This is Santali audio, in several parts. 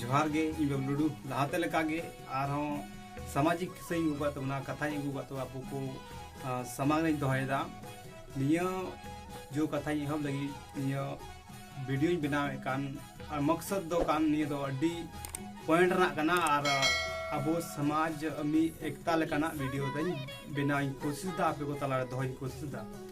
ᱡᱚᱦᱟᱨ ᱜᱮ ᱤᱧ ᱵᱟᱵᱞᱩ ᱴᱩᱰᱩ ᱞᱟᱦᱟᱛᱮ ᱞᱮᱠᱟ ᱜᱮ ᱟᱨᱦᱚᱸ ᱥᱟᱢᱟᱡᱤᱠ ᱠᱤᱥᱟᱹᱧ ᱟᱹᱜᱩ ᱠᱟᱜ ᱛᱟᱵᱚᱱᱟ ᱠᱟᱛᱷᱟᱧ ᱟᱹᱜᱩ ᱠᱟᱜ ᱛᱟᱵᱚᱱᱟ ᱟᱵᱚ ᱠᱚ ᱥᱟᱢᱟᱝ ᱨᱮᱧ ᱫᱚᱦᱚᱭᱮᱫᱟ ᱱᱤᱭᱟᱹ ᱡᱚ ᱠᱟᱛᱷᱟᱧ ᱮᱦᱚᱵ ᱞᱟᱹᱜᱤᱫ ᱱᱤᱭᱟᱹ ᱵᱷᱤᱰᱤᱭᱳᱧ ᱵᱮᱱᱟᱣᱮᱫ ᱠᱟᱱ ᱟᱨ ᱢᱚᱠᱥᱚᱫ ᱫᱚ ᱠᱟᱱ ᱱᱤᱭᱟᱹ ᱫᱚ ᱟᱹᱰᱤ ᱯᱚᱭᱮᱱᱴ ᱨᱮᱱᱟᱜ ᱠᱟᱱᱟ ᱟᱨ ᱟᱵᱚ ᱥᱚᱢᱟᱡᱽ ᱢᱤᱫ ᱮᱠᱛᱟ ᱞᱮᱠᱟᱱᱟᱜ ᱵᱷᱤᱰᱤᱭᱳ ᱫᱚᱧ ᱵᱮᱱᱟᱣᱤᱧ ᱠᱳᱥᱤᱥᱫᱟ ᱟᱯᱮ ᱠᱚ ᱛᱟᱞᱟᱨᱮ ᱫᱚᱦᱚᱧ ᱠᱳᱥᱤᱥᱫᱟ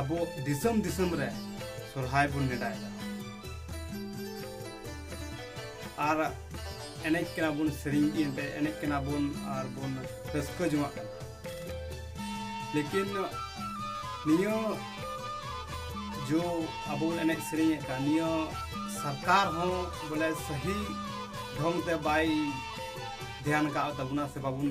ᱟᱵᱚ ᱫᱤᱥᱚᱢ ᱫᱤᱥᱚᱢ ᱨᱮ ᱥᱚᱨᱦᱟᱭ ᱵᱚᱱ ᱱᱮᱰᱟᱭᱮᱫᱟ ᱟᱨ ᱮᱱᱮᱡ ᱠᱟᱱᱟ ᱵᱚᱱ ᱥᱮᱨᱮᱧ ᱮᱱᱛᱮ ᱮᱱᱮᱡ ᱠᱟᱱᱟ ᱵᱚᱱ ᱟᱨ ᱵᱚᱱ ᱨᱟᱹᱥᱠᱟᱹ ᱡᱚᱝᱟᱜ ᱠᱟᱱᱟ ᱞᱮᱠᱤᱱ ᱱᱤᱭᱟᱹ ᱡᱚ ᱟᱵᱚ ᱵᱚᱱ ᱮᱱᱮᱡ ᱥᱮᱨᱮᱧᱮᱫ ᱠᱟᱱ ᱱᱤᱭᱟᱹ ᱥᱚᱨᱠᱟᱨ ᱦᱚᱸ ᱵᱚᱞᱮ ᱥᱟᱹᱦᱤ ᱰᱷᱚᱝ ᱛᱮ ᱵᱟᱭ ᱫᱷᱮᱭᱟᱱ ᱠᱟᱜ ᱛᱟᱵᱚᱱᱟ ᱥᱮ ᱵᱟᱵᱚᱱ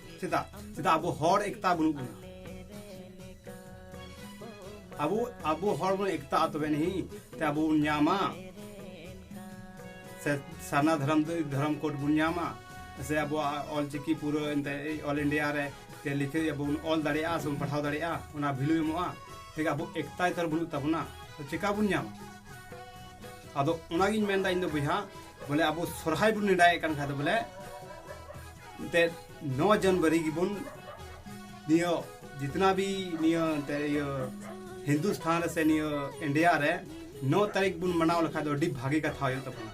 ᱪᱮᱫᱟᱜ ᱪᱮᱫᱟᱜ ᱟᱵᱚ ᱦᱚᱲ ᱮᱠᱛᱟ ᱵᱟᱹᱱᱩᱜ ᱵᱚᱱᱟ ᱟᱵᱚ ᱟᱵᱚ ᱦᱚᱲ ᱵᱚᱱ ᱮᱠᱛᱟ ᱛᱚᱵᱮ ᱱᱤᱦᱤ ᱛᱮ ᱟᱵᱚ ᱵᱚᱱ ᱧᱟᱢᱟ ᱥᱮ ᱥᱟᱨᱱᱟ ᱫᱷᱚᱨᱚᱢ ᱫᱷᱚᱨᱚᱢ ᱠᱳᱰ ᱵᱚᱱ ᱧᱟᱢᱟ ᱥᱮ ᱟᱵᱚᱣᱟᱜ ᱚᱞ ᱪᱤᱠᱤ ᱯᱩᱨᱟᱹ ᱮᱱᱛᱮ ᱚᱞ ᱤᱱᱰᱤᱭᱟ ᱨᱮ ᱛᱮ ᱞᱤᱠᱷᱟᱹ ᱟᱵᱚ ᱵᱚᱱ ᱚᱞ ᱫᱟᱲᱮᱭᱟᱜᱼᱟ ᱥᱮ ᱵᱚᱱ ᱯᱟᱲᱦᱟᱣ ᱫᱟᱲᱮᱭᱟᱜᱼᱟ ᱚᱱᱟ ᱵᱷᱮᱞᱩ ᱮᱢᱚᱜᱼᱟ ᱴᱷᱤᱠ ᱟᱵᱚ ᱮᱠᱛᱟ ᱛᱟᱨ ᱵᱟᱹᱱᱩᱜ ᱛᱟᱵᱚᱱᱟ ᱪᱮᱠᱟ ᱵᱚᱱ ᱧᱟᱢᱟ ᱟᱫᱚ ᱚᱱᱟᱜᱤᱧ ᱢᱮᱱᱫᱟ ᱤᱧ ᱫᱚ ᱵᱚᱭᱦᱟ ᱵᱚᱞᱮ ᱟᱵᱚ ᱥᱚᱨᱦᱟᱭ ᱵᱚᱱ ᱱᱮᱰᱟᱭᱮᱫ ᱠᱟᱱ ᱠᱷᱟᱡ ᱫᱚ ᱵᱚᱞᱮ ᱮᱱᱛᱮᱫ ᱱᱚ ᱡᱟᱱᱩᱣᱟᱨᱤ ᱜᱮᱵᱚᱱ ᱱᱤᱭᱟᱹ ᱡᱤᱛᱱᱟ ᱵᱤ ᱱᱤᱭᱟᱹ ᱮᱱᱛᱮ ᱤᱭᱟᱹ ᱦᱤᱱᱫᱩᱥᱛᱷᱟᱱ ᱨᱮ ᱥᱮ ᱱᱤᱭᱟᱹ ᱤᱱᱰᱤᱭᱟ ᱨᱮ ᱱᱚ ᱛᱟᱹᱨᱤᱠᱷ ᱵᱚᱱ ᱢᱟᱱᱟᱣ ᱞᱮᱠᱷᱟᱡ ᱫᱚ ᱟᱹᱰᱤ ᱵᱷᱟᱜᱮ ᱠᱟᱛᱷᱟ ᱦᱩᱭᱩᱜ ᱛᱟᱵᱚᱱᱟ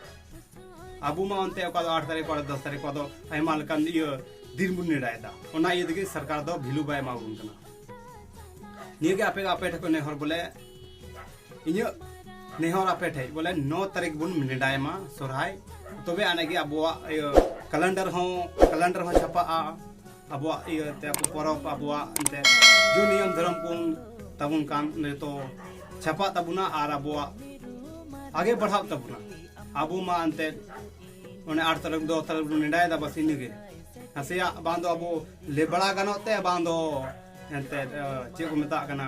ᱟᱵᱚ ᱢᱟ ᱚᱱᱛᱮ ᱚᱠᱟ ᱫᱚ ᱟᱴ ᱛᱟᱹᱨᱤᱠᱷ ᱚᱠᱟ ᱫᱚ ᱫᱚᱥ ᱛᱟᱹᱨᱤᱠᱷ ᱚᱠᱟ ᱫᱚ ᱟᱭᱢᱟ ᱞᱮᱠᱟᱱ ᱤᱭᱟᱹ ᱫᱤᱱ ᱵᱚᱱ ᱱᱮᱰᱟᱭᱮᱫᱟ ᱚᱱᱟ ᱤᱭᱟᱹ ᱛᱮᱜᱮ ᱥᱚᱨᱠᱟᱨ ᱫᱚ ᱵᱷᱮᱞᱩ ᱵᱟᱭ ᱮᱢᱟᱵᱚᱱ ᱠᱟᱱᱟ ᱱᱤᱭᱟᱹᱜᱮ ᱟᱯᱮ ᱟᱯᱮ ᱴᱷᱮᱱ ᱠᱷᱚᱱ ᱱᱮᱦᱚᱨ ᱵᱚᱞᱮ ᱤᱧᱟᱹᱜ ᱱᱮᱦᱚᱨ ᱟᱯᱮ ᱴᱷᱮᱡ ᱵᱚᱞᱮ ᱱᱚ ᱛᱟᱹᱨᱤᱠᱷ ᱵᱚᱱ ᱱᱮᱰᱟᱭ ᱢᱟ ᱥᱚᱨᱦᱟᱭ ᱛᱚᱵᱮ ᱟᱱᱮ ᱜᱮ ᱟᱵᱚᱣᱟᱜ ᱤᱭᱟᱹ ᱠᱮᱞᱮᱱᱰᱟᱨ ᱦᱚᱸ ᱠᱮᱞᱮᱱᱰᱟᱨ ᱦᱚᱸ ᱪᱷᱟᱯᱟᱜᱼᱟ ᱟᱵᱚᱣᱟᱜ ᱤᱭᱟᱹ ᱛᱮ ᱟᱵᱚ ᱯᱚᱨᱚᱵᱽ ᱟᱵᱚᱣᱟᱜ ᱮᱱᱛᱮ ᱡᱩ ᱱᱤᱭᱚᱢ ᱫᱷᱚᱨᱚᱢ ᱠᱚ ᱛᱟᱵᱚᱱ ᱠᱟᱱ ᱱᱤᱛᱚ ᱪᱷᱟᱯᱟᱜ ᱛᱟᱵᱚᱱᱟ ᱟᱨ ᱟᱵᱚᱣᱟᱜ ᱟᱜᱮ ᱵᱟᱲᱦᱟᱜ ᱛᱟᱵᱚᱱᱟ ᱟᱵᱚ ᱢᱟ ᱮᱱᱛᱮ ᱚᱱᱮ ᱟᱴ ᱛᱟᱹᱨᱤᱠᱷ ᱫᱚ ᱛᱟᱹᱨᱤᱠᱷ ᱵᱚᱱ ᱱᱮᱰᱟᱭ ᱫᱟ ᱵᱟᱥ ᱤᱱᱟᱹᱜᱮ ᱱᱟᱥᱮᱭᱟᱜ ᱵᱟᱝ ᱫᱚ ᱟᱵᱚ ᱞᱮᱵᱲᱟ ᱜᱟᱱᱚᱜ ᱛᱮ ᱵᱟᱝ ᱫᱚ ᱮᱱᱛᱮ ᱪᱮᱫ ᱠᱚ ᱢᱮᱛᱟᱜ ᱠᱟᱱᱟ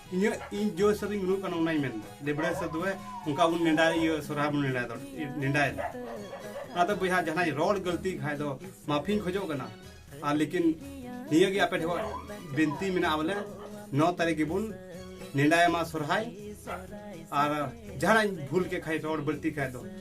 ᱤᱧᱟᱹᱜ ᱤᱧ ᱡᱚ ᱦᱤᱥᱟᱹᱵ ᱤᱧ ᱜᱩᱱᱟᱹᱜ ᱠᱟᱱᱟ ᱚᱱᱟᱧ ᱢᱮᱱᱫᱟ ᱰᱮᱵᱽᱲᱟᱹ ᱦᱤᱥᱟᱹᱵ ᱫᱚ ᱚᱱᱠᱟ ᱵᱚᱱ ᱱᱮᱰᱟ ᱤᱭᱟᱹ ᱥᱚᱨᱦᱟᱭ ᱵᱚᱱ ᱱᱮᱰᱟᱭ ᱫᱚ ᱱᱮᱰᱟᱭ ᱫᱚ ᱚᱱᱟᱛᱮ ᱵᱚᱭᱦᱟ ᱡᱟᱦᱟᱸᱭ ᱨᱚᱲ ᱜᱟᱹᱞᱛᱤ ᱠᱷᱟᱡ ᱫᱚ ᱢᱟᱯᱷᱤᱧ ᱠᱷᱚᱡᱚᱜ ᱠᱟᱱᱟ ᱟᱨ ᱞᱮᱠᱤᱱ ᱱᱤᱭᱟᱹ ᱜᱮ ᱟᱯᱮ ᱴᱷᱮᱱ ᱵᱤᱱᱛᱤ ᱢᱮᱱᱟᱜᱼᱟ ᱵᱚᱞᱮ ᱱᱚ ᱛᱟᱹᱨᱤᱠᱷ ᱜᱮᱵᱚᱱ ᱱᱮᱰᱟᱭ ᱢᱟ ᱥᱚᱨᱦᱟᱭ ᱟᱨ ᱡᱟᱦᱟᱱᱟᱜ ᱤᱧ ᱵᱷᱩᱞ ᱠᱮᱫ ᱠᱷᱟᱡ ᱨᱚᱲ ᱵᱟᱹᱲᱛᱤ ᱠᱷᱟᱡ ᱫᱚ